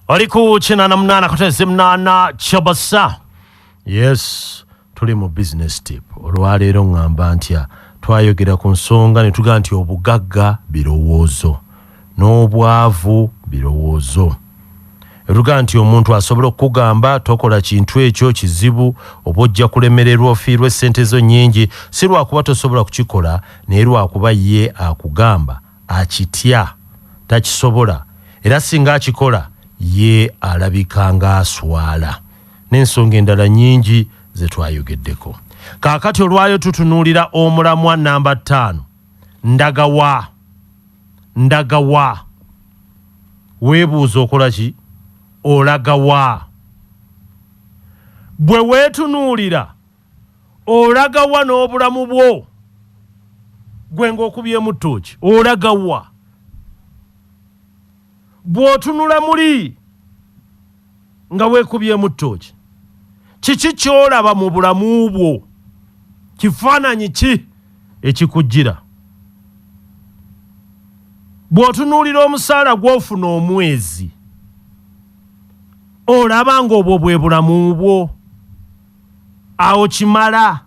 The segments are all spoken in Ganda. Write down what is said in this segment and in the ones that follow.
oli ku kinana munana kuteze munana kyabasa yes tuli mu business tip olwaleero ŋŋamba ntya twayogera ku nsonga ne tugaa nti obugagga birowoozo n'obwavu birowoozo etugaa nti omuntu asobola okukugamba tokola kintu ekyo kizibu oba ojja kulemererwa ofiirwa essente zo nnyingi si lwakuba tosobola kukikola naye lwakuba ye akugamba akitya, takisobola era singa akikola ye alabika ng'aswala n'ensonga endala nnyingi ze twayogeddeko. Kaakati olwayo tutunuulira omulamwa nnamba ttaano, Ndaga wa? Ndaga wa? Weebuuza okola ki? Olaga wa? Bwe weetunuulira. olagawa n'obulamu bwo gwe ng'okubyemu ttooki olagawa bw'otunula muli nga weekubyemu ttooki kiki ky'olaba mu bulamu bwo kifaananyi ki ekikujjira bw'otunuulira omusaala gw'ofuna omwezi olaba ng'obwo bwe bulamu bwo awo kimala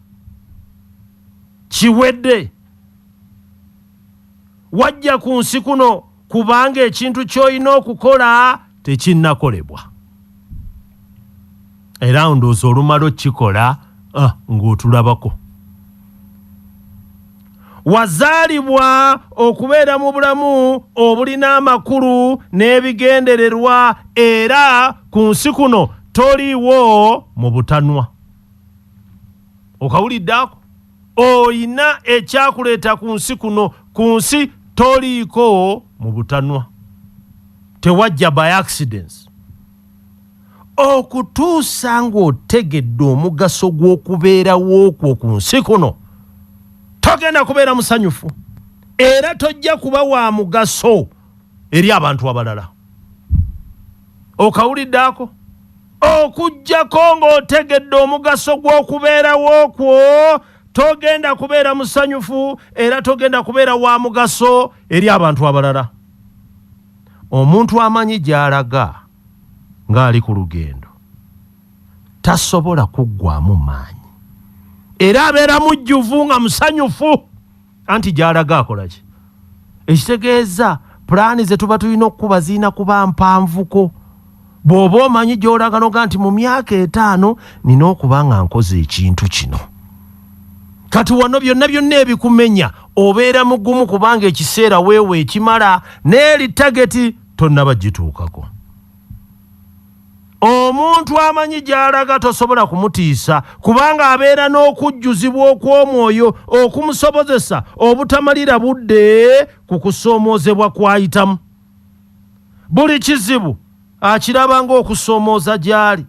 kiwedde wajja ku nsi kuno kubanga ekintu ky'olina okukola tekinnakolebwa era ndowooza olumala okikola ah, ng'otulabako Wazaalibwa okubeera mu bulamu obulina amakulu n'ebigendererwa era ku nsi kuno toliiwo mu butanwa. Okawulidde ako? Olina ekyakuleeta ku nsi kuno. Ku nsi toliiko mu butanwa. Tewajja by accidents. okutuusa ng'otegedde omugaso gw'okubeerawo kwo ku nsi kuno togenda kubeera musanyufu era tojja kuba wa mugaso eri abantu abalala okawulidde ako okuggyako ng'otegedde omugaso gw'okubeerawo kwo togenda kubeera musanyufu era togenda kubeera wa mugaso eri abantu abalala Omuntu amanyi gy'alaga ng'ali ku lugendo tasobola kuggwaamu maanyi era abeera mujjuvu nga musanyufu anti gy'alaga akola ki ekitegeeza pulaani ze tuba tulina okukuba zirina kuba mpanvuko. bw'oba omanyi gy'olaga noga nti mu myaka etaano nina okuba nga nkoze ekintu kino kati wano byonna byonna ebikumenya obeera mugumu kubanga ekiseera weewa ekimala n'eri tageti tonnaba gituukako omuntu amanyi gy'alaga tosobola kumutiisa kubanga abeera n'okujjuzibwa okw'omwoyo okumusobozesa obutamalira budde ku kusoomoozebwa kw'ayitamu Buli kizibu akiraba ng'okusoomooza gy'ali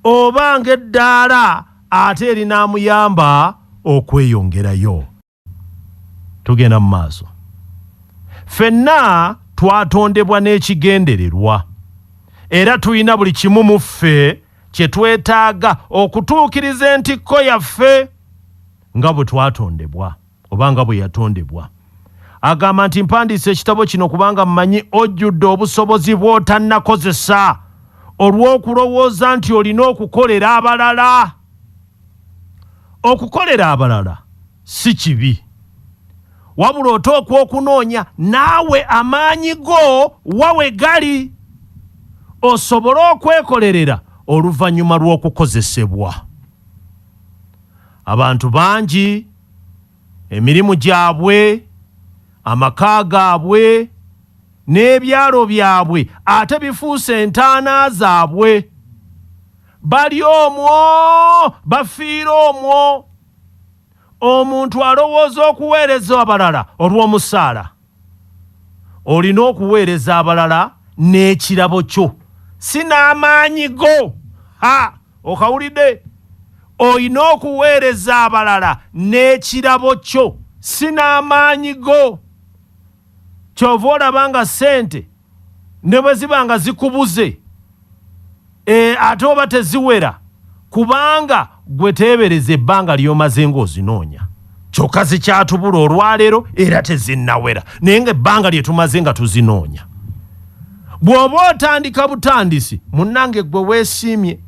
oba ng'eddaala ate erinaamuyamba okweyongerayo. Tugenda mu maaso. Ffenna twatondebwa n'ekigendererwa era tulina buli kimu mu ffe kye twetaaga okutuukiriza entikko yaffe nga bwe twatondebwa. oba nga bwe yatondebwa. Agamba nti mpandiise ekitabo kino kubanga mmanyi ojjudde obusobozi bw'otannakozesa olw'okulowooza nti olina okukolera abalala. Okukolera abalala si kibi. Wabula oteekwa okunoonya naawe amaanyi go wa we gali osobole okwekolerera oluvannyuma lw'okukozesebwa. Abantu bangi. emirimu gyabwe, amaka gaabwe n'ebyalo byabwe ate bifuuse entaana zaabwe. Bali omwo, bafiira omwo. Omuntu alowooza okuweereza abalala olw'omusaala. Olina okuweereza abalala n'ekirabo kyo, si n'amaanyi go. Ha, okawulidde? Olina okuweereza abalala n'ekirabo kyo, si n'amaanyi go. Ky'ova olaba nga ssente. ne bwe ziba nga zikubuze e, ate oba teziwera kubanga gwe teebereza ebbanga ly'omaze ng'ozinoonya kyokka zikyatubula olwaleero era tezinnawera naye nga ebbanga lye tumaze nga tuzinoonya bw'oba otandika butandisi munnange gwe weesiimye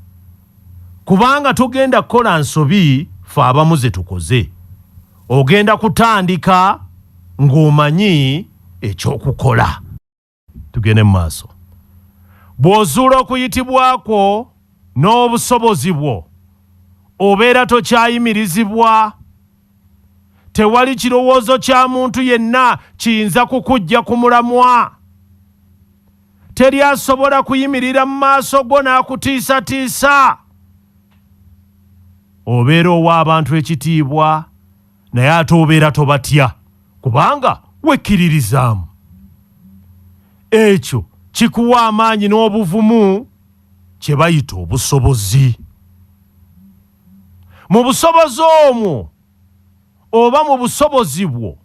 kubanga togenda kukola nsobi fe abamu zetukoze ogenda kutandika ng'omanyi ekyokukola tugende mu maaso bw'ozuula okuyitibwa kwo n'obusobozi bwo obeera tokyayimirizibwa tewali kirowoozo kya muntu yenna kiyinza kukujja ku mulamwa. Teri asobola kuyimirira mu maaso go n'akutiisatiisa. Obeera owa abantu ekitiibwa, naye ate obeera tobatya kubanga wekkiririzaamu. Ekyo kikuwa amaanyi n'obuvumu kye bayita obusobozi. Mu busobozi omwo oba mu busobozi bwo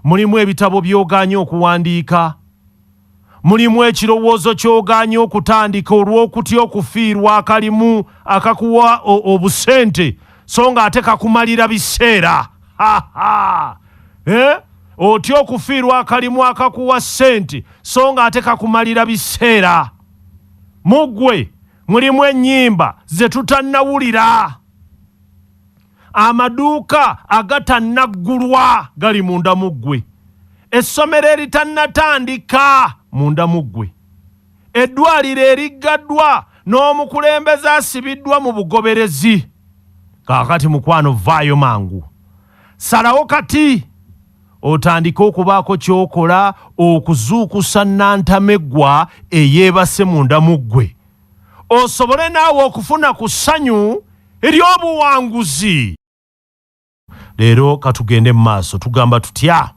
mulimu ebitabo by'ogaanye okuwandiika? Mulimu ekirowoozo ky'ogaanye okutandika olw'okutya okufiirwa akalimu akakuwa obusente so ng'ate kakumalira biseera? Ha-ha! Eh? Otya okufiirwa akalimu akakuwa ssente so ng'ate kakumalira biseera? Mu ggwe! mulimu ennyimba ze tutannawulira amaduuka agatannaggulwa gali munda mu ggwe essomero eritannatandika munda mu ggwe eddwaliro eriggaddwa n'omukulembeze asibiddwa mu bugoberezi kaakati mukwano vaayo mangu salawo kati otandike okubaako ky'okola okuzuukusa nnantameggwa eyeebase munda mu ggwe osobole naawe okufuna ku ssanyu ery'obuwanguzi leero katugende mu maaso tugamba tutya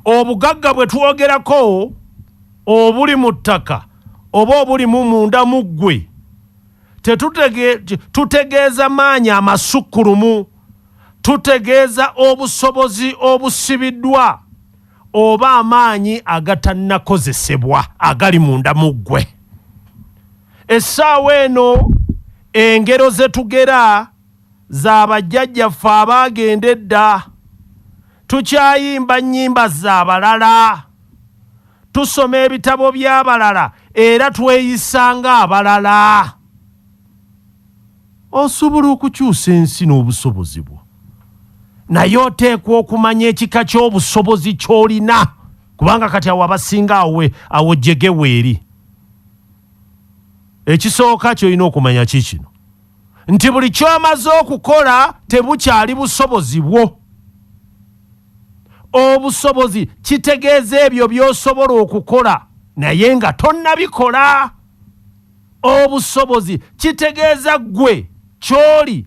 obugagga bwe twogerako obuli mu ttaka oba obulimu munda mu ggwe tutegeeza maanyi amasukkulumu tutegeeza obusobozi obusibiddwa oba amaanyi agatannakozesebwa agali munda mu ggwe essaawa eno engero ze tugera za bajjajjaffe abaagenda edda tukyayimba nnyimba z'abalala tusoma ebitabo by'abalala era tweyisa ng'abalala Osobola okukyusa ensi n'obusobozi bwo, naye oteekwa okumanya ekika ky'obusobozi ky'olina, kubanga kati awo abasinga awo, awo jjege weeri. Ekisooka ky'olina okumanya kiikino nti buli ky'omaze okukola tebukyali busobozi bwo. Obusobozi kitegeeza ebyo by'osobola okukola naye nga tonnabikola. Obusobozi kitegeeza ggwe ky'oli,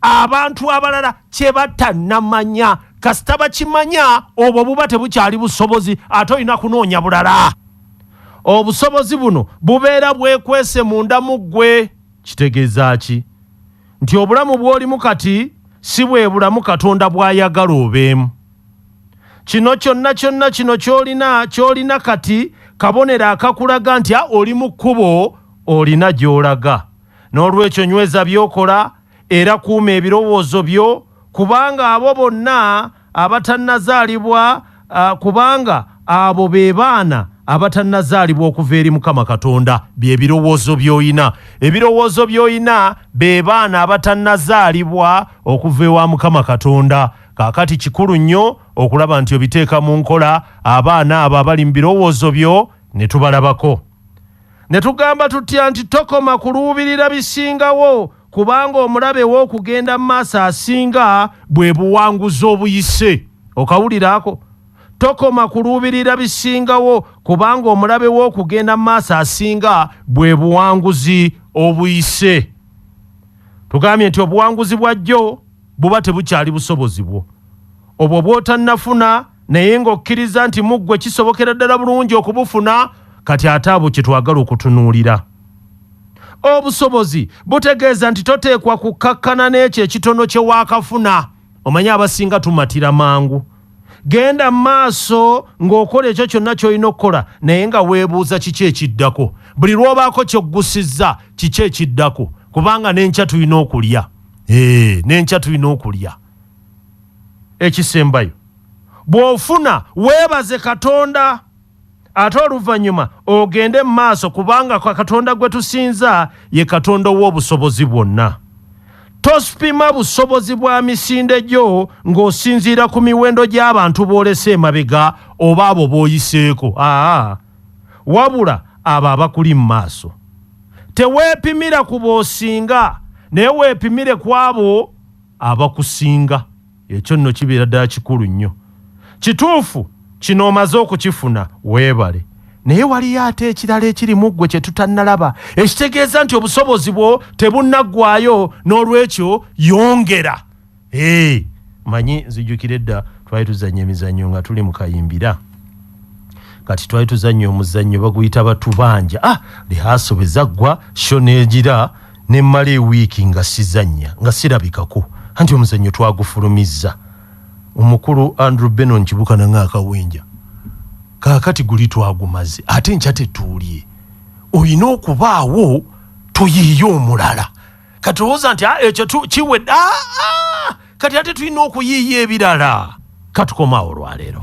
abantu abalala kye batannamanya. Kasita bakimanya, obwo buba tebukyali busobozi, ate olina kunoonya bulala. Obusobozi buno bubeera bwekwese munda mu ggwe. Kitegeeza ki? Nti obulamu bw'olimu kati si bwe bulamu Katonda bw'ayagala obeemu. kino kyonna kyonna kino kyolina kyolina kati kabonero akakulaga nti a oli mu kkubo olina gy'olaga n'olwekyo nyweza by'okola era kuuma ebirowoozo byo kubanga abo bonna abatannazaalibwa kubanga abo be baana abatannazaalibwa okuva eri mukama katonda bye birowoozo by'olina ebirowoozo by'olina be baana abatannazaalibwa okuva ewa mukama katonda Kaakati kikulu nnyo okulaba nti obiteeka mu nkola, abaana abo abali mu birowoozo byo ne tubalabako. Ne tugamba tutya nti tokoma kuluubirira bisingawo, kubanga omulabe wo okugenda mu maaso asinga bwe buwanguzi obuyise. Okawulira ako? Tokoma kuluubirira bisingawo, kubanga omulabe wo okugenda mu maaso asinga bwe buwanguzi obuyise. Tugambye nti obuwanguzi bwa jjo. buba tebukyali busobozi bwo obwo bwotannafuna naye ng'okkiriza nti mu ggwe kisobokera ddala bulungi okubufuna kati ate abo kye twagala okutunuulira obusobozi butegeeza nti toteekwa kukkakkana n'ekyo ekitono kye waakafuna omanyi abasinga tumatira mangu genda mu maaso ng'okola ekyo kyonna ky'olina okukola naye nga weebuuza kiki ekiddako buli lw'obaako ky'oggusizza kiki ekiddako kubanga n'enkya tulina okulya ee nenkya tulina okulya ekisembayo bw'ofuna weebaze katonda ate oluvannyuma ogende mu maaso kubanga kwa katonda gwe tusinza ye katonda ow'obusobozi bwonna tosipima busobozi bwa misinde gyo ng'osinziira ku miwendo gy'abantu boolese emabega oba abo b'oyiseeko aa wabula abo abakuli mu maaso. Teweepimira ku b'osinga, naye weepimire ku abo abakusinga. Ekyo nno kibeera ddala kikulu nnyo. Kituufu, kino omaze okukifuna, weebale. Naye waliyo ate ekirala ekiri mu ggwe kye tutannalaba, ekitegeeza nti obusobozi bwo tebunnaggwaayo, n'olwekyo yongera. hey, manyi nzijukira edda twali tuzanya emizannyo nga tuli mukayimbira kati twali tuzanya omuzannyo baguyita batubanja ah, lihaso bezaggwa sho negira nemmala ewiiki nga sizanya nga sirabikako anti omuzannyo twagufulumizza omukulu andrew benon kibukana ngaakawenja kakati guli twagumaze ate nkya tetuulye olina okubaawo tuyiiye omulala kati olowooza nti ah, ekyo kiwedde ah, ah, kati ate tulina okuyiiya ebirala katukomawo olwaleero